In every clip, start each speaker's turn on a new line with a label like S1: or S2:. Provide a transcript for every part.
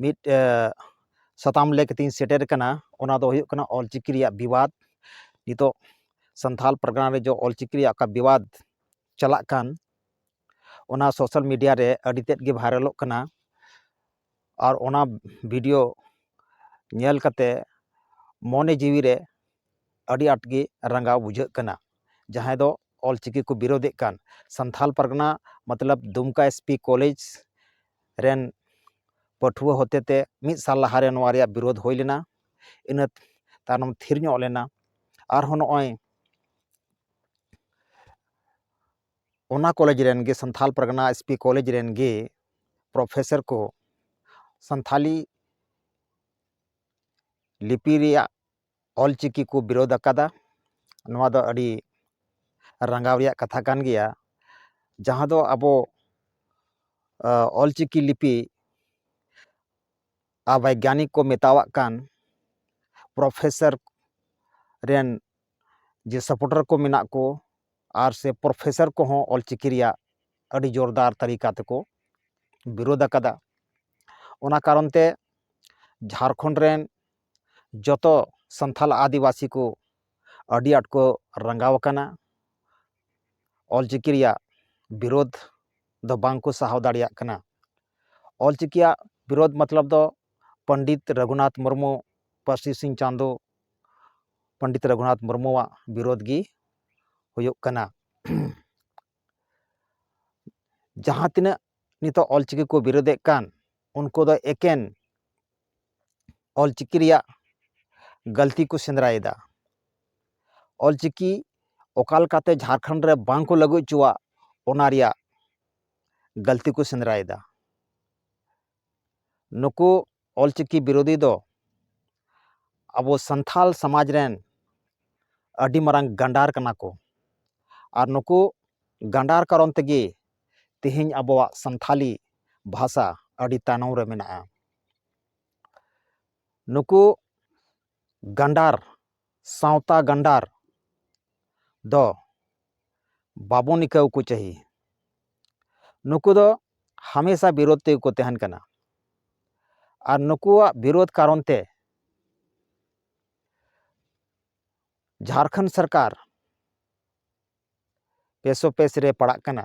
S1: ᱢᱤᱫ ᱥᱟᱛᱟᱢ ᱞᱟᱹᱭ ᱠᱟᱛᱮᱧ ᱥᱮᱴᱮᱨ ᱠᱟᱱᱟ ᱚᱱᱟ ᱫᱚ ᱦᱩᱭᱩᱜ ᱠᱟᱱᱟ ᱚᱞ ᱪᱤᱠᱤ ᱨᱮᱭᱟᱜ ᱵᱤᱵᱟᱫ ᱱᱤᱛᱚᱜ ᱥᱟᱱᱛᱟᱲ ᱯᱟᱨᱜᱟᱱᱟ ᱨᱮ ᱡᱮ ᱚᱞ ᱪᱤᱠᱤ ᱨᱮᱭᱟᱜ ᱚᱠᱟ ᱵᱤᱵᱟᱫ ᱪᱟᱞᱟᱜ ᱠᱟᱱ ᱚᱱᱟ ᱥᱳᱥᱟᱞ ᱢᱤᱰᱤᱭᱟ ᱨᱮ ᱟᱹᱰᱤ ᱛᱮᱫ ᱜᱮ ᱵᱷᱟᱭᱨᱟᱞᱚᱜ ᱠᱟᱱᱟ ᱟᱨ ᱚᱱᱟ ᱵᱷᱤᱰᱤᱭᱳ ᱧᱮᱞ ᱠᱟᱛᱮ ᱢᱚᱱᱮ ᱡᱤᱣᱤ ᱨᱮ ᱟᱹᱰᱤ ᱟᱸᱴ ᱜᱮ ᱨᱟᱸᱜᱟᱣ ᱵᱩᱡᱷᱟᱹᱜ ᱠᱟᱱᱟ ᱡᱟᱦᱟᱸᱭ ᱫᱚ ᱚᱞ ᱪᱤᱠᱤ ᱠᱚ ᱵᱤᱨᱳᱫᱮᱫ ᱠᱟᱱ ᱥᱟᱱᱛᱷᱟᱞ ᱯᱟᱨᱜᱟᱱᱟ ᱢᱚᱛᱞᱚᱵ ᱫᱩᱢᱠᱟ ᱮᱥ ᱯᱤ ᱠᱚᱞᱮᱡᱽ ᱨᱮᱱ ᱯᱟᱹᱴᱷᱩᱣᱟᱹ ᱦᱚᱛᱮ ᱛᱮ ᱢᱤᱫ ᱥᱟᱞ ᱞᱟᱦᱟ ᱨᱮ ᱱᱚᱣᱟ ᱨᱮᱭᱟᱜ ᱵᱤᱨᱳᱫᱷ ᱦᱩᱭ ᱞᱮᱱᱟ ᱤᱱᱟᱹ ᱛᱟᱭᱱᱚᱢ ᱛᱷᱤᱨ ᱧᱚᱜ ᱞᱮᱱᱟ ᱟᱨᱦᱚᱸ ᱱᱚᱜᱼᱚᱭ ᱚᱱᱟ ᱠᱚᱞᱮᱡᱽ ᱨᱮᱱ ᱜᱮ Santhal Pargana S P college ᱨᱮᱱ ᱜᱮ ᱯᱨᱚᱯᱷᱮᱥᱚᱨ ᱠᱚ ᱥᱟᱱᱛᱷᱟᱞᱤ ᱞᱤᱯᱤ ᱨᱮᱭᱟᱜ ᱚᱞᱪᱤᱠᱤ ᱠᱚ ᱵᱤᱨᱳᱫᱷ ᱟᱠᱟᱫᱟ ᱱᱚᱣᱟ ᱫᱚ ᱟᱹᱰᱤ ᱨᱟᱸᱜᱟᱣ ᱨᱮᱭᱟᱜ ᱠᱟᱛᱷᱟ ᱠᱟᱱ ᱜᱮᱭᱟ ᱡᱟᱦᱟᱸ ᱫᱚ ᱟᱵᱚ ᱚᱞᱪᱤᱠᱤ ᱞᱤᱯᱤ ᱟᱨ ᱵᱳᱭᱜᱟᱱᱤᱠ ᱠᱚ ᱢᱮᱛᱟᱣᱟᱜ ᱠᱟᱱ ᱯᱨᱚᱯᱷᱮᱥᱟᱨ ᱨᱮᱱ ᱡᱮ ᱥᱟᱯᱚᱴᱟᱨ ᱠᱚ ᱢᱮᱱᱟᱜ ᱠᱚ ᱟᱨ ᱥᱮ ᱯᱨᱚᱯᱷᱮᱥᱟᱨ ᱠᱚᱦᱚᱸ ᱚᱞᱪᱤᱠᱤ ᱨᱮᱭᱟᱜ ᱟᱹᱰᱤ ᱡᱳᱨᱫᱟᱨ ᱛᱟᱹᱨᱤᱠᱟ ᱛᱮᱠᱚ ᱵᱤᱨᱳᱫᱷ ᱟᱠᱟᱫᱟ ᱚᱱᱟ ᱠᱟᱨᱚᱱ ᱛᱮ ᱡᱷᱟᱲᱠᱷᱚᱸᱰ ᱨᱮᱱ ᱡᱚᱛᱚ ᱥᱟᱱᱛᱟᱞ ᱟᱹᱫᱤᱵᱟᱹᱥᱤ ᱠᱚ ᱟᱹᱰᱤ ᱟᱸᱴ ᱠᱚ ᱨᱟᱸᱜᱟᱣ ᱟᱠᱟᱱᱟ ᱚᱞᱪᱤᱠᱤ ᱨᱮᱭᱟᱜ ᱵᱤᱨᱳᱫᱷ ᱫᱚ ᱵᱟᱝ ᱠᱚ ᱥᱟᱦᱟᱣ ᱫᱟᱲᱮᱭᱟᱜ ᱠᱟᱱᱟ ᱚᱞᱪᱤᱠᱤᱭᱟᱜ ᱵᱤᱨᱳᱫᱷ ᱢᱚᱛᱞᱚᱵ ᱫᱚ ᱯᱚᱱᱰᱤᱛ ᱨᱟᱹᱜᱷᱩᱱᱟᱛᱷ ᱢᱩᱨᱢᱩ ᱯᱟᱹᱨᱥᱤ ᱥᱤᱧ ᱪᱟᱸᱫᱚ ᱯᱚᱱᱰᱤᱛ ᱨᱟᱹᱜᱷᱩᱱᱟᱛᱷ ᱢᱩᱨᱢᱩᱣᱟᱜ ᱵᱤᱨᱳᱫᱷ ᱜᱮ ᱦᱩᱭᱩᱜ ᱠᱟᱱᱟ ᱡᱟᱦᱟᱸ ᱛᱤᱱᱟᱹᱜ ᱱᱤᱛᱚᱜ ᱚᱞ ᱪᱤᱠᱤ ᱠᱚ ᱵᱤᱨᱳᱫᱮᱫ ᱠᱟᱱ ᱩᱱᱠᱩ ᱫᱚ ᱮᱠᱮᱱ ᱚᱞ ᱪᱤᱠᱤ ᱨᱮᱭᱟᱜ ᱜᱟᱹᱞᱛᱤ ᱠᱚ ᱥᱮᱸᱫᱽᱨᱟᱭᱮᱫᱟ ᱚᱞ ᱪᱤᱠᱤ ᱚᱠᱟ ᱞᱮᱠᱟᱛᱮ ᱡᱷᱟᱲᱠᱷᱚᱸᱰ ᱨᱮ ᱵᱟᱝ ᱠᱚ ᱞᱟᱹᱜᱩ ᱦᱚᱪᱚᱣᱟᱜ ᱚᱱᱟ ᱨᱮᱭᱟᱜ ᱜᱟᱹᱞᱛᱤ ᱠᱚ ᱥᱮᱸᱫᱽᱨᱟᱭᱮᱫᱟ ᱱᱩᱠᱩ ᱚᱞ ᱪᱤᱠᱤ ᱵᱤᱨᱳᱫᱷᱤ ᱫᱚ ᱟᱵᱚ ᱥᱟᱱᱛᱷᱟᱞ ᱥᱚᱢᱟᱡᱽ ᱨᱮᱱ ᱟᱹᱰᱤ ᱢᱟᱨᱟᱝ ᱜᱟᱱᱰᱟᱨ ᱠᱟᱱᱟ ᱠᱚ ᱟᱨ ᱱᱩᱠᱩ ᱜᱟᱱᱰᱟᱨ ᱠᱟᱨᱚᱱ ᱛᱮᱜᱮ ᱛᱤᱦᱤᱧ ᱟᱵᱚᱣᱟᱜ ᱥᱟᱱᱛᱷᱟᱞᱤ ᱵᱷᱟᱥᱟ ᱟᱹᱰᱤ ᱛᱟᱭᱱᱚᱢ ᱨᱮ ᱢᱮᱱᱟᱜᱼᱟ ᱱᱩᱠᱩ ᱜᱟᱱᱰᱟᱨ ᱥᱟᱶᱛᱟ ᱜᱟᱱᱰᱟᱨ ᱫᱚ ᱵᱟᱵᱚᱱ ᱤᱠᱟᱹᱣ ᱠᱚ ᱪᱟᱹᱦᱤ ᱱᱩᱠᱩ ᱫᱚ ᱦᱟᱢᱮᱥᱟ ᱵᱤᱨᱳᱫ ᱛᱮᱜᱮ ᱠᱚ ᱛᱟᱦᱮᱱ ᱠᱟᱱᱟ ᱟᱨ ᱱᱩᱠᱩᱣᱟᱜ ᱵᱤᱨᱳᱫ ᱠᱟᱨᱚᱱ ᱛᱮ ᱡᱷᱟᱲᱠᱷᱚᱸᱰ ᱥᱚᱨᱠᱟᱨ ᱯᱮᱥᱳᱯᱮᱥ ᱨᱮ ᱯᱟᱲᱟᱜ ᱠᱟᱱᱟ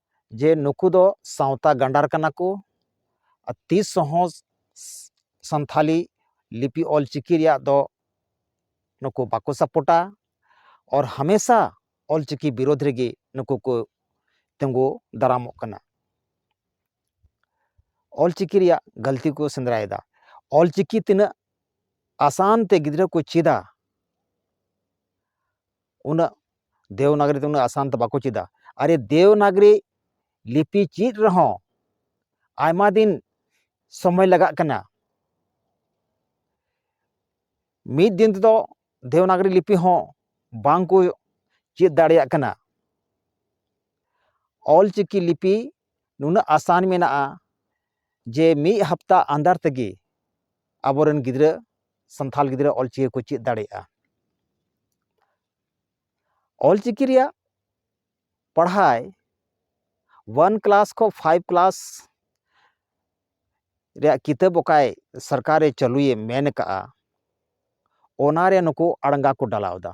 S1: ᱡᱮ ᱱᱩᱠᱩ ᱫᱚ ᱥᱟᱶᱛᱟ ᱜᱟᱸᱰᱟᱨ ᱠᱟᱱᱟ ᱠᱚ ᱟᱨ ᱛᱤᱥ ᱦᱚᱸ ᱥᱟᱱᱛᱷᱟᱞᱤ ᱞᱤᱯᱤ ᱚᱞ ᱪᱤᱠᱤ ᱨᱮᱭᱟᱜ ᱫᱚ ᱱᱩᱠᱩ ᱵᱟᱠᱚ ᱥᱟᱯᱚᱴᱟ ᱚᱨ ᱦᱟᱢᱮᱥᱟ ᱚᱞ ᱪᱤᱠᱤ ᱵᱤᱨᱳᱫᱷ ᱨᱮᱜᱮ ᱱᱩᱠᱩ ᱠᱚ ᱛᱤᱸᱜᱩ ᱫᱟᱨᱟᱢᱚᱜ ᱠᱟᱱᱟ ᱚᱞ ᱪᱤᱠᱤ ᱨᱮᱭᱟᱜ ᱜᱟᱹᱞᱛᱤ ᱠᱚ ᱥᱮᱸᱫᱽᱨᱟᱭᱮᱫᱟ ᱚᱞ ᱪᱤᱠᱤ ᱛᱤᱱᱟᱹᱜ ᱟᱥᱟᱱ ᱛᱮ ᱜᱤᱫᱽᱨᱟᱹ ᱠᱚ ᱪᱮᱫᱟ ᱩᱱᱟᱹᱜ ᱫᱮᱣᱱᱟᱜᱨᱤ ᱛᱮ ᱩᱱᱟᱹᱜ ᱟᱥᱟᱱ ᱛᱮ ᱵᱟᱠᱚ ᱪᱮᱫᱟ ᱟᱨ ᱫᱮᱣᱱᱟᱜᱨᱤ ᱞᱤᱯᱤ ᱪᱮᱫ ᱨᱮᱦᱚᱸ ᱟᱭᱢᱟ ᱫᱤᱱ ᱥᱚᱢᱚᱭ ᱞᱟᱜᱟᱜ ᱠᱟᱱᱟ ᱢᱤᱫ ᱫᱤᱱ ᱛᱮᱫᱚ ᱫᱮᱣᱱᱟᱜᱨᱤ ᱞᱤᱯᱤ ᱦᱚᱸ ᱵᱟᱝᱠᱚ ᱪᱮᱫ ᱫᱟᱲᱮᱭᱟᱜ ᱠᱟᱱᱟ ᱚᱞᱪᱤᱠᱤ ᱞᱤᱯᱤ ᱱᱩᱱᱟᱹᱜ ᱟᱥᱟᱱ ᱢᱮᱱᱟᱜᱼᱟ ᱡᱮ ᱢᱤᱫ ᱦᱟᱯᱛᱟ ᱟᱱᱫᱟᱨ ᱛᱮᱜᱮ ᱟᱵᱚᱨᱮᱱ ᱜᱤᱫᱽᱨᱟᱹ ᱥᱟᱱᱛᱷᱟᱞ ᱜᱤᱫᱽᱨᱟᱹ ᱚᱞᱪᱤᱠᱤ ᱠᱚ ᱪᱮᱫ ᱫᱟᱲᱮᱭᱟᱜᱼᱟ ᱚᱞᱪᱤᱠᱤ ᱨᱮᱭᱟᱜ ᱯᱟᱲᱦᱟᱭ ᱚᱣᱟᱱ ᱠᱞᱟᱥ ᱠᱷᱚᱱ ᱯᱷᱟᱭᱤᱵᱷ ᱠᱞᱟᱥ ᱨᱮᱭᱟᱜ ᱠᱤᱛᱟᱹᱵ ᱚᱠᱟᱭ ᱥᱚᱨᱠᱟᱨᱮ ᱪᱟᱹᱞᱩᱭᱮ ᱢᱮᱱ ᱠᱟᱜᱼᱟ ᱚᱱᱟᱨᱮ ᱱᱩᱠᱩ ᱟᱲᱜᱟ ᱠᱚ ᱰᱟᱞᱟᱣᱫᱟ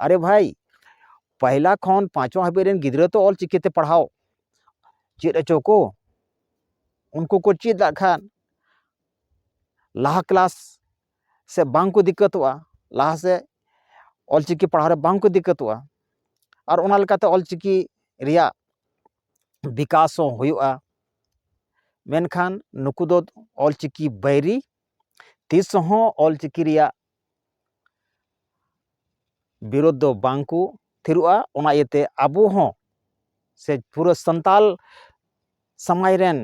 S1: ᱟᱨᱮ ᱵᱷᱟᱭ ᱯᱟᱦᱞᱟ ᱠᱷᱚᱱ ᱯᱟᱸᱪᱣᱟ ᱦᱟᱹᱵᱤᱡ ᱨᱮᱱ ᱜᱤᱫᱽᱨᱟᱹ ᱛᱚ ᱚᱞ ᱪᱤᱠᱤᱛᱮ ᱯᱟᱲᱦᱟᱣ ᱪᱮᱫ ᱦᱚᱪᱚ ᱠᱚ ᱩᱱᱠᱩ ᱠᱚ ᱪᱮᱫ ᱟᱜ ᱠᱷᱟᱱ ᱞᱟᱦᱟ ᱠᱞᱟᱥ ᱥᱮ ᱵᱟᱝ ᱠᱚ ᱫᱤᱠᱠᱟᱹᱛᱚᱜᱼᱟ ᱞᱟᱦᱟ ᱥᱮᱫ ᱚᱞ ᱪᱤᱠᱤ ᱯᱟᱲᱦᱟᱣ ᱨᱮ ᱵᱟᱝ ᱠᱚ ᱫᱤᱠᱠᱟᱹᱛᱚᱜᱼᱟ ᱟᱨ ᱚᱱᱟ ᱞᱮᱠᱟᱛᱮ ᱚᱞ ᱪᱤᱠᱤ ᱨᱮᱭᱟᱜ ᱵᱤᱠᱟᱥ ᱦᱚᱸ ᱦᱩᱭᱩᱜᱼᱟ ᱢᱮᱱᱠᱷᱟᱱ ᱱᱩᱠᱩ ᱫᱚ ᱚᱞ ᱪᱤᱠᱤ ᱵᱟᱹᱭᱨᱤ ᱛᱤᱥ ᱦᱚᱸ ᱚᱞ ᱪᱤᱠᱤ ᱨᱮᱭᱟᱜ ᱵᱤᱨᱳᱫᱷ ᱫᱚ ᱵᱟᱝ ᱠᱚ ᱛᱷᱤᱨᱚᱜᱼᱟ ᱚᱱᱟ ᱤᱭᱟᱹᱛᱮ ᱟᱵᱚ ᱦᱚᱸ ᱥᱮ ᱯᱩᱨᱟᱹ ᱥᱟᱱᱛᱟᱞ ᱥᱚᱢᱟᱡᱽ ᱨᱮᱱ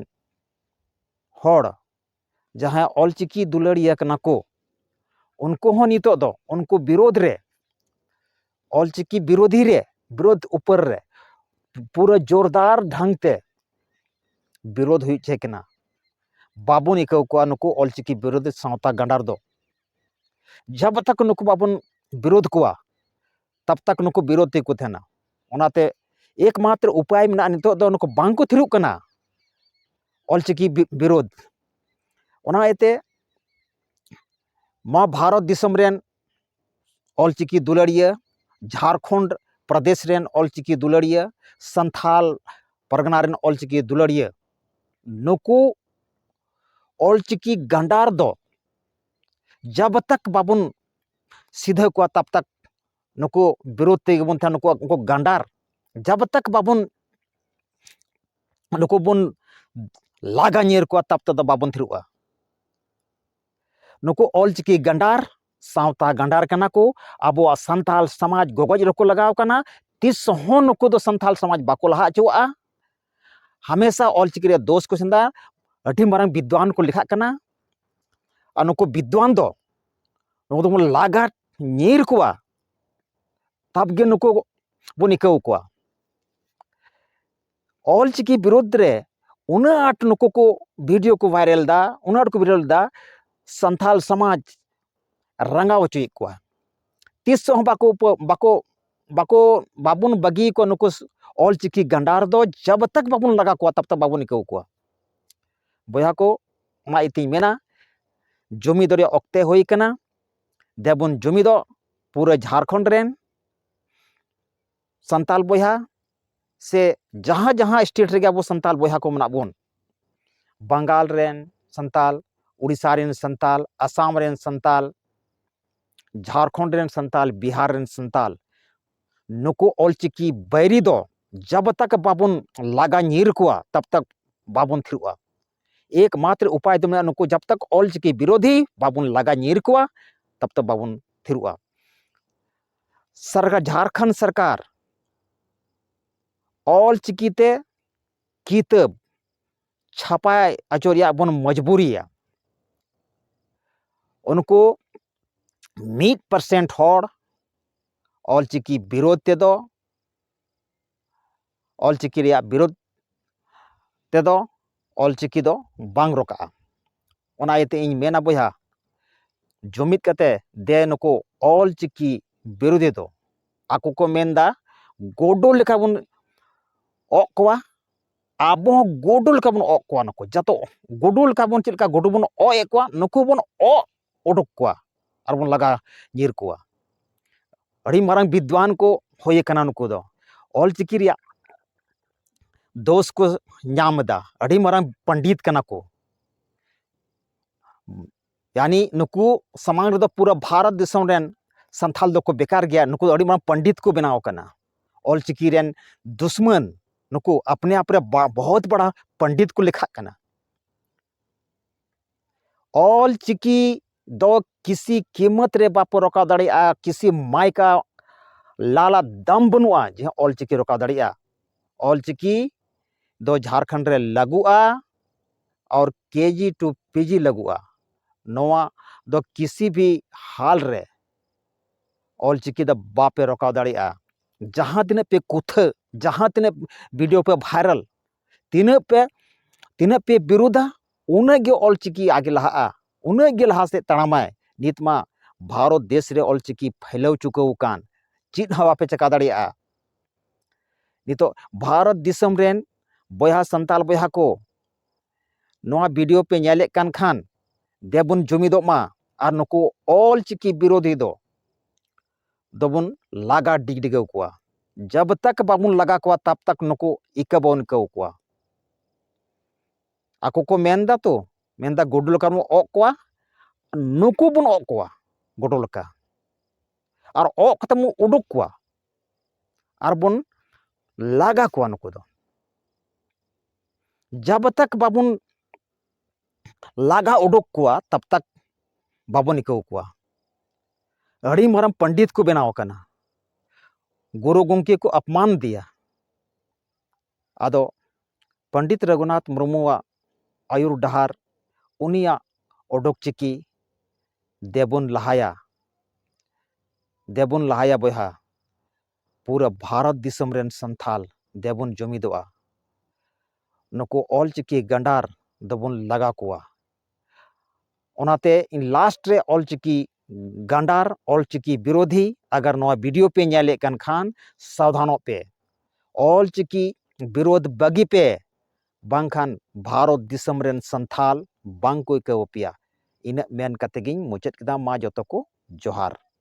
S1: ᱦᱚᱲ ᱡᱟᱦᱟᱸᱭ ᱚᱞᱪᱤᱠᱤ ᱫᱩᱞᱟᱹᱲᱤᱭᱟᱹ ᱠᱟᱱᱟ ᱠᱚ ᱩᱱᱠᱩ ᱦᱚᱸ ᱱᱤᱛᱚᱜ ᱫᱚ ᱩᱱᱠᱩ ᱵᱤᱨᱳᱫᱷ ᱨᱮ ᱚᱞᱪᱤᱠᱤ ᱵᱤᱨᱳᱫᱷᱤ ᱨᱮ ᱵᱤᱨᱳᱫᱷ ᱩᱯᱟᱹᱨ ᱨᱮ ᱯᱩᱨᱟᱹ ᱡᱳᱨᱫᱟᱨ ᱰᱷᱟᱝ ᱛᱮ ᱵᱤᱨᱳᱫᱷ ᱦᱩᱭᱩᱜ ᱪᱟᱹᱭ ᱠᱟᱱᱟ ᱵᱟᱵᱚᱱ ᱟᱹᱭᱠᱟᱹᱣ ᱠᱚᱣᱟ ᱱᱩᱠᱩ ᱚᱞᱪᱤᱠᱤ ᱵᱤᱨᱳᱫᱷ ᱥᱟᱶᱛᱟ ᱜᱟᱸᱰᱟᱨ ᱫᱚ ᱡᱟᱵ ᱛᱟᱠᱚ ᱱᱩᱠᱩ ᱵᱟᱵᱚᱱ ᱵᱤᱨᱳᱫᱷ ᱠᱚᱣᱟ ᱛᱟᱵ ᱛᱚᱠ ᱱᱩᱠᱩ ᱵᱤᱨᱳᱫᱷ ᱛᱮᱜᱮ ᱠᱚ ᱛᱟᱦᱮᱱᱟ ᱚᱱᱟᱛᱮ ᱮᱠ ᱢᱟᱛᱨᱚ ᱩᱯᱟᱭ ᱢᱮᱱᱟᱜᱼᱟ ᱱᱤᱛᱚᱜ ᱫᱚ ᱱᱩᱠᱩ ᱵᱟᱝ ᱠᱚ ᱛᱷᱤᱨᱚᱜ ᱠᱟᱱᱟ ᱚᱞ ᱪᱤᱠᱤ ᱵᱤᱨᱳᱫᱷ ᱚᱱᱟ ᱤᱭᱟᱹᱛᱮ ᱱᱚᱣᱟ ᱵᱷᱟᱨᱚᱛ ᱫᱤᱥᱚᱢ ᱨᱮᱱ ᱚᱞ ᱪᱤᱠᱤ ᱫᱩᱞᱟᱹᱲᱤᱭᱟᱹ ᱡᱷᱟᱲᱠᱷᱚᱸᱰ ᱯᱨᱚᱫᱮᱥ ᱨᱮᱱ ᱚᱞ ᱪᱤᱠᱤ ᱫᱩᱞᱟᱹᱲᱤᱭᱟᱹ ᱥᱟᱱᱛᱷᱟᱞ ᱯᱟᱨᱜᱟᱱᱟ ᱨᱮᱱ ᱚᱞ ᱪᱤᱠᱤ ᱫᱩᱞᱟᱹᱲᱤᱭᱟᱹ ᱱᱩᱠᱩ ᱚᱞ ᱪᱤᱠᱤ ᱜᱟᱸᱰᱟᱨ ᱫᱚ ᱡᱟᱵ ᱛᱟᱠ ᱵᱟᱵᱚᱱ ᱥᱤᱫᱷᱟᱹ ᱠᱚᱣᱟ ᱛᱟᱵ ᱛᱟᱠ ᱱᱩᱠᱩ ᱵᱤᱨᱳᱫ ᱛᱮᱜᱮ ᱵᱚᱱ ᱛᱟᱦᱮᱱᱟ ᱱᱩᱠᱩᱣᱟᱜ ᱩᱱᱠᱩ ᱜᱟᱱᱰᱟᱨ ᱡᱟᱵ ᱛᱟᱠ ᱵᱟᱵᱚᱱ ᱱᱩᱠᱩ ᱵᱚᱱ ᱞᱟᱜᱟ ᱧᱤᱨ ᱠᱚᱣᱟ ᱛᱟᱵ ᱛᱮᱫᱚ ᱵᱟᱵᱚᱱ ᱛᱷᱤᱨᱚᱜᱼᱟ ᱱᱩᱠᱩ ᱚᱞᱪᱤᱠᱤ ᱜᱟᱱᱰᱟᱨ ᱥᱟᱶᱛᱟ ᱜᱟᱱᱰᱟᱨ ᱠᱟᱱᱟ ᱠᱚ ᱟᱵᱚᱣᱟᱜ ᱥᱟᱱᱛᱟᱞ ᱥᱚᱢᱟᱡᱽ ᱜᱚᱜᱚᱡ ᱨᱮᱠᱚ ᱞᱟᱜᱟᱣ ᱠᱟᱱᱟ ᱛᱤᱥ ᱦᱚᱸ ᱱᱩᱠᱩ ᱫᱚ ᱥᱟᱱᱛᱟᱞ ᱥᱚᱢᱟᱡᱽ ᱵᱟᱠᱚ ᱞᱟᱦᱟ ᱦᱚᱪᱚᱣᱟᱜᱼᱟ ᱦᱟᱢᱮᱥᱟ ᱚᱞᱪᱤᱠᱤ ᱨᱮ ᱫᱳᱥ ᱠᱚ ᱥᱮᱸᱫᱟ ᱟᱹᱰᱤ ᱢᱟᱨᱟᱝ ᱵᱤᱫᱽᱣᱟᱱ ᱠᱚ ᱞᱮᱠᱷᱟᱜ ᱠᱟᱱᱟ ᱟᱨ ᱱᱩᱠᱩ ᱵᱤᱫᱽᱣᱟᱱ ᱫᱚ ᱱᱩᱠᱩ ᱫᱚᱵᱚᱱ ᱞᱟᱜᱟᱛ ᱧᱤᱨ ᱠᱚᱣᱟ ᱛᱟᱵᱜᱮ ᱱᱩᱠᱩ ᱵᱚᱱ ᱤᱠᱟᱹᱣ ᱠᱚᱣᱟ ᱚᱞᱪᱤᱠᱤ ᱵᱤᱨᱩᱫᱽ ᱨᱮ ᱩᱱᱟᱹᱜ ᱟᱸᱴ ᱱᱩᱠᱩ ᱠᱚ ᱵᱷᱤᱰᱤᱭᱳ ᱠᱚ ᱵᱷᱟᱭᱨᱟᱞ ᱫᱟ ᱩᱱᱟᱹᱜ ᱟᱸᱴ ᱠᱚ ᱵᱷᱟᱭᱨᱟᱞ ᱫᱟ ᱥᱟᱱᱛᱟᱞ ᱥᱚᱢᱟᱡᱽ ᱨᱟᱸᱜᱟᱣ ᱦᱚᱪᱚᱭᱮᱫ ᱠᱚᱣᱟ ᱛᱤᱥ ᱦᱚᱸ ᱵᱟᱠᱚ ᱵᱟᱠᱚ ᱵᱟᱠᱚ ᱵᱟᱵᱚᱱ ᱵᱟᱹᱜᱤ ᱟᱠᱚᱣᱟ ᱱᱩᱠᱩ ᱚᱞ ᱪᱤᱠᱤ ᱜᱟᱸᱰᱟᱨ ᱫᱚ ᱡᱟᱵ ᱛᱟᱠ ᱵᱟᱵᱚᱱ ᱞᱟᱜᱟ ᱠᱚᱣᱟ ᱛᱟᱵ ᱛᱟᱠ ᱵᱟᱵᱚᱱ ᱤᱠᱟᱹᱣ ᱠᱚᱣᱟ ᱵᱚᱭᱦᱟ ᱠᱚ ᱚᱱᱟ ᱤᱛᱤᱧ ᱢᱮᱱᱟ ᱡᱩᱢᱤᱫ ᱨᱮᱭᱟᱜ ᱚᱠᱛᱮ ᱦᱩᱭ ᱠᱟᱱᱟ ᱫᱮᱵᱚᱱ ᱡᱩᱢᱤᱫᱚᱜ ᱯᱩᱨᱟᱹ ᱡᱷᱟᱲᱠᱷᱚᱸᱰ ᱨᱮᱱ ᱥᱟᱱᱛᱟᱲ ᱵᱚᱭᱦᱟ ᱥᱮ ᱡᱟᱦᱟᱸ ᱡᱟᱦᱟᱸ ᱥᱴᱮᱴ ᱨᱮᱜᱮ ᱟᱵᱚ ᱥᱟᱱᱛᱟᱲ ᱵᱚᱭᱦᱟ ᱠᱚ ᱢᱮᱱᱟᱜ ᱵᱚᱱ ᱵᱟᱝᱜᱟᱞ ᱨᱮᱱ ᱥᱟᱱᱛᱟᱲ ᱩᱲᱤᱥᱥᱟ ᱨᱮᱱ ᱥᱟᱱᱛᱟᱲ ᱟᱥᱟᱢ ᱨᱮᱱ ᱥᱟᱱᱛᱟᱲ ᱡᱷᱟᱲᱠᱷᱚᱸᱰ ᱨᱮᱱ ᱥᱟᱱᱛᱟᱲ ᱵᱤᱦᱟᱨ ᱨᱮᱱ ᱥᱟᱱᱛᱟᱲ ᱱᱩᱠᱩ ᱚᱞᱪᱤᱠᱤ ᱵᱟᱹᱭᱨᱤ ᱫᱚ ᱡᱟᱵᱽ ᱛᱟᱠ ᱵᱟᱵᱚᱱ ᱞᱟᱜᱟ ᱧᱤᱨ ᱠᱚᱣᱟ ᱛᱟᱵᱽ ᱛᱟᱠ ᱵᱟᱵᱚᱱ ᱛᱷᱤᱨᱚᱜᱼᱟ ᱮᱠᱢᱟᱛᱨᱚ ᱩᱯᱟᱭ ᱫᱚ ᱢᱮᱱᱟᱜᱼᱟ ᱱᱩᱠᱩ ᱡᱟᱵ ᱛᱟᱠ ᱚᱞᱪᱤᱠᱤ ᱵᱤᱨᱳᱫᱷᱤ ᱵᱟᱵᱚᱱ ᱞᱟᱜᱟ ᱧᱤᱨ ᱠᱚᱣᱟ ᱛᱟᱵ ᱛᱟᱠ ᱵᱟᱵᱚᱱ ᱛᱷᱤᱨᱚᱜᱼᱟ ᱥᱟᱨᱠᱟᱨ ᱡᱷᱟᱲᱠᱷᱚᱸᱰ ᱥᱚᱨᱠᱟᱨ ᱚᱞᱪᱤᱠᱤᱛᱮ ᱠᱤᱛᱟᱹᱵ ᱪᱷᱟᱯᱟᱭ ᱟᱪᱚ ᱨᱮᱭᱟᱜ ᱵᱚᱱ ᱢᱚᱡᱽᱵᱩᱨᱤᱭᱟ ᱩᱱᱠᱩ ᱢᱤᱫ ᱯᱟᱨᱥᱮᱱᱴ ᱦᱚᱲ ᱚᱞᱪᱤᱠᱤ ᱵᱤᱨᱳᱫᱷ ᱛᱮᱫᱚ ᱚᱞ ᱪᱤᱠᱤ ᱨᱮᱭᱟᱜ ᱵᱤᱨᱳᱫᱷ ᱛᱮᱫᱚ ᱚᱞ ᱪᱤᱠᱤ ᱫᱚ ᱵᱟᱝ ᱨᱚᱠᱟᱜᱼᱟ ᱚᱱᱟ ᱤᱭᱟᱹᱛᱮ ᱤᱧ ᱢᱮᱱᱟ ᱵᱚᱭᱦᱟ ᱡᱩᱢᱤᱫ ᱠᱟᱛᱮ ᱫᱮ ᱱᱩᱠᱩ ᱚᱞ ᱪᱤᱠᱤ ᱵᱤᱨᱳᱫᱷᱤ ᱫᱚ ᱟᱠᱚ ᱠᱚ ᱢᱮᱱᱫᱟ ᱜᱳᱰᱳ ᱞᱮᱠᱟ ᱵᱚᱱ ᱚᱜ ᱠᱚᱣᱟ ᱟᱵᱚ ᱦᱚᱸ ᱜᱳᱰᱳ ᱞᱮᱠᱟ ᱵᱚᱱ ᱚᱜ ᱠᱚᱣᱟ ᱱᱩᱠᱩ ᱡᱟᱛᱚ ᱜᱳᱰᱳ ᱞᱮᱠᱟ ᱵᱚᱱ ᱪᱮᱫ ᱞᱮᱠᱟ ᱜᱳᱰᱳ ᱵᱚᱱ ᱚᱜ ᱮᱜ ᱠᱚᱣᱟ ᱱᱩᱠᱩ ᱵᱚᱱ ᱚᱜ ᱚᱰᱚᱠ ᱠᱚᱣᱟ ᱟᱨᱵᱚᱱ ᱞᱟᱜᱟ ᱧᱤᱨ ᱠᱚᱣᱟ ᱟᱹᱰᱤ ᱢᱟᱨᱟᱝ ᱵᱤᱫᱽᱣᱟᱱ ᱠᱚ ᱦᱩᱭ ᱟᱠᱟᱱᱟ ᱱᱩᱠᱩ ᱫᱚ ᱚᱞ ᱪᱤᱠᱤ ᱨᱮᱭᱟᱜ ᱫᱳᱥ ᱠᱚ ᱧᱟᱢ ᱮᱫᱟ ᱟᱹᱰᱤ ᱢᱟᱨᱟᱝ ᱯᱚᱱᱰᱤᱛ ᱠᱟᱱᱟ ᱠᱚ ᱭᱟᱱᱤ ᱱᱩᱠᱩ ᱥᱟᱢᱟᱝ ᱨᱮᱫᱚ ᱯᱩᱨᱟᱹ ᱵᱷᱟᱨᱚᱛ ᱫᱤᱥᱚᱢ ᱨᱮᱱ ᱥᱟᱱᱛᱷᱟᱞ ᱫᱚᱠᱚ ᱵᱮᱠᱟᱨ ᱜᱮᱭᱟ ᱱᱩᱠᱩ ᱫᱚ ᱟᱹᱰᱤ ᱢᱟᱨᱟᱝ ᱯᱚᱱᱰᱤᱛ ᱠᱚ ᱵᱮᱱᱟᱣ ᱟᱠᱟᱱᱟ ᱚᱞ ᱪᱤᱠᱤ ᱨᱮᱱ ᱫᱩᱥᱢᱟᱱ ᱱᱩᱠᱩ ᱟᱯᱱᱮ ᱟᱯ ᱨᱮ ᱵᱚᱦᱚᱛ ᱵᱟᱲᱟ ᱯᱚᱱᱰᱤᱛ ᱠᱚ ᱞᱮᱠᱷᱟᱜ ᱠᱟᱱᱟ ᱚᱞ ᱪᱤᱠᱤ ᱫᱚ ᱠᱤᱥᱤ ᱠᱤᱢᱚᱛ ᱨᱮ ᱵᱟᱠᱚ ᱨᱚᱠᱟᱣ ᱫᱟᱲᱮᱭᱟᱜᱼᱟ ᱠᱤᱥᱤ ᱢᱟᱭᱠᱟ ᱞᱟᱞᱟ ᱫᱟᱢ ᱵᱟᱹᱱᱩᱜᱼᱟ ᱡᱮ ᱚᱞ ᱪᱤᱠᱤ ᱨᱚᱠᱟᱣ ᱫᱟᱲᱮᱭᱟᱜᱼᱟ ᱚᱞ ᱪᱤᱠᱤ ᱫᱚ ᱡᱷᱟᱲᱠᱷᱚᱸᱰ ᱨᱮ ᱞᱟᱹᱜᱩᱜᱼᱟ ᱟᱨ ᱠᱮᱡᱤ ᱴᱩ ᱯᱤᱡᱤ ᱞᱟᱹᱜᱩᱜᱼᱟ ᱱᱚᱣᱟ ᱫᱚ ᱠᱤᱥᱤ ᱵᱷᱤ ᱦᱟᱞ ᱨᱮ ᱚᱞ ᱪᱤᱠᱤ ᱫᱚ ᱵᱟᱯᱮ ᱨᱚᱠᱟᱣ ᱫᱟᱲᱮᱭᱟᱜᱼᱟ ᱡᱟᱦᱟᱸ ᱛᱤᱱᱟᱹᱜ ᱯᱮ ᱠᱩᱛᱷᱟᱹ ᱡᱟᱦᱟᱸ ᱛᱤᱱᱟᱹᱜ ᱵᱷᱤᱰᱤᱭᱳ ᱯᱮ ᱵᱷᱟᱭᱨᱟᱞ ᱛᱤᱱᱟᱹᱜ ᱯᱮ ᱛᱤᱱᱟᱹᱜ ᱯᱮ ᱵᱤᱨᱩᱫᱟ ᱩᱱᱟᱹᱜ ᱜᱮ ᱚᱞ ᱪᱤᱠᱤ ᱟᱜᱮ ᱞᱟᱦᱟᱜᱼᱟ ᱩᱱᱟᱹᱜ ᱜᱮ ᱞᱟᱦᱟ ᱥᱮᱫ ᱛᱟᱲᱟᱢᱟᱭ ᱱᱤᱛ ᱢᱟ ᱵᱷᱟᱨᱚᱛ ᱫᱮᱥ ᱨᱮ ᱚᱞ ᱪᱤᱠᱤ ᱯᱷᱟᱹᱭᱞᱟᱹᱣ ᱪᱩᱠᱟᱹᱣ ᱟᱠᱟᱱ ᱪᱮᱫ ᱦᱚᱸ ᱵᱟᱯᱮ ᱪᱮᱠᱟ ᱫᱟᱲᱮᱭᱟᱜᱼᱟ ᱱᱤᱛᱚᱜ ᱵᱷᱟᱨᱚᱛ ᱫᱤᱥᱚᱢ ᱨᱮᱱ ᱵᱚᱭᱦᱟ ᱥᱟᱱᱛᱟᱲ ᱵᱚᱭᱦᱟ ᱠᱚ ᱱᱚᱣᱟ ᱵᱷᱤᱰᱤᱭᱳ ᱯᱮ ᱧᱮᱞᱮᱫ ᱠᱟᱱ ᱠᱷᱟᱱ ᱫᱮᱵᱚᱱ ᱡᱩᱢᱤᱫᱚᱜ ᱢᱟ ᱟᱨ ᱱᱩᱠᱩ ᱚᱞ ᱪᱤᱠᱤ ᱵᱤᱨᱳᱫᱷᱤ ᱫᱚ ᱫᱚᱵᱚᱱ ᱞᱟᱜᱟ ᱰᱤᱜᱽᱰᱤᱜᱟᱹᱣ ᱠᱚᱣᱟ ᱡᱟᱵ ᱛᱟᱠ ᱵᱟᱵᱚᱱ ᱞᱟᱜᱟ ᱠᱚᱣᱟ ᱛᱟᱵ ᱛᱟᱠ ᱱᱩᱠᱩ ᱤᱠᱟᱹ ᱵᱟᱵᱚᱱ ᱤᱠᱟᱹᱣ ᱠᱚᱣᱟ ᱟᱠᱚ ᱠᱚ ᱢᱮᱱᱫᱟ ᱛᱚ ᱢᱮᱱᱫᱟ ᱜᱩᱰᱩ ᱞᱮᱠᱟ ᱵᱚᱱ ᱚᱜ ᱠᱚᱣᱟ ᱱᱩᱠᱩ ᱵᱚᱱ ᱚᱜ ᱠᱚᱣᱟ ᱜᱩᱰᱩ ᱞᱮᱠᱟ ᱟᱨ ᱚᱜ ᱠᱟᱛᱮ ᱵᱚᱱ ᱩᱰᱩᱠ ᱠᱚᱣᱟ ᱟᱨ ᱵᱚᱱ ᱞᱟᱜᱟ ᱠᱚᱣᱟ ᱱᱩᱠᱩ ᱫᱚ ᱡᱟᱵ ᱛᱟᱠ ᱵᱟᱵᱚᱱ ᱞᱟᱜᱟ ᱩᱰᱩᱠ ᱠᱚᱣᱟ ᱛᱟᱵ ᱛᱟᱠ ᱵᱟᱵᱚᱱ ᱤᱠᱟᱹᱣ ᱠᱚᱣᱟ ᱟᱹᱰᱤ ᱢᱟᱨᱟᱝ ᱯᱚᱱᱰᱤᱛ ᱠᱚ ᱵᱮᱱᱟᱣ ᱟᱠᱟᱱᱟ ᱜᱩᱨᱩ ᱜᱚᱢᱠᱮ ᱠᱚ ᱟᱯᱢᱟᱱ ᱫᱮᱭᱟ ᱟᱫᱚ ᱯᱚᱱᱰᱤᱛ ᱨᱚᱜᱷᱩᱱᱟᱛᱷ ᱢᱩᱨᱢᱩᱣᱟᱜ ᱟᱭᱩᱨ ᱰᱟᱦᱟᱨ ᱩᱱᱤᱭᱟᱜ ᱚᱰᱚᱠ ᱪᱤᱠᱤ ᱫᱮᱵᱚᱱ ᱞᱟᱦᱟᱭᱟ ᱫᱮᱵᱚᱱ ᱞᱟᱦᱟᱭᱟ ᱵᱚᱭᱦᱟ ᱯᱩᱨᱟᱹ ᱵᱷᱟᱨᱚᱛ ᱫᱤᱥᱚᱢ ᱨᱮᱱ ᱥᱟᱱᱛᱷᱟᱞ ᱫᱮᱵᱚᱱ ᱡᱚᱢᱤᱫᱚᱜᱼᱟ᱾ ᱱᱩᱠᱩ ᱚᱞ ᱪᱤᱠᱤ ᱜᱟᱸᱰᱟᱨ ᱫᱚᱵᱚᱱ ᱞᱟᱜᱟ ᱠᱚᱣᱟ᱾ ᱚᱱᱟᱛᱮ ᱤᱧ ᱞᱟᱥᱴ ᱨᱮ ᱚᱞ ᱪᱤᱠᱤ ᱜᱟᱸᱰᱟᱨ, ᱚᱞ ᱪᱤᱠᱤ ᱵᱤᱨᱚᱫᱷᱤ ᱟᱜᱟᱨ ᱱᱚᱣᱟ ᱵᱤᱰᱤᱭᱳ ᱯᱮ ᱧᱮᱞᱮᱫ ᱠᱟᱱ ᱠᱷᱟᱱ ᱥᱟᱵᱫᱷᱟᱱᱚᱜ ᱯᱮ᱾ ᱚᱞ ᱪᱤᱠᱤ ᱵᱤᱨᱚᱫᱷ ᱵᱟᱹᱜᱤ ᱯᱮ ᱵᱟᱝᱠᱷᱟᱱ ᱵᱷᱟᱨᱚᱛ ᱫᱤᱥᱚᱢ ᱨᱮᱱ ᱥᱟᱱᱛᱷᱟᱞ ᱵᱟᱝ ᱠᱚ ᱟᱹᱭᱠᱟᱹᱣ ᱟᱯᱮᱭᱟ᱾ ᱤᱱᱟᱹᱜ ᱢᱮᱱ ᱠᱟᱛᱮ ᱜᱤᱧ ᱢᱩᱪᱟᱹᱫ ᱠᱮᱫᱟ᱾ ᱢᱟ ᱡᱚᱛᱚ ᱠᱚ ᱡᱚᱦᱟᱨ᱾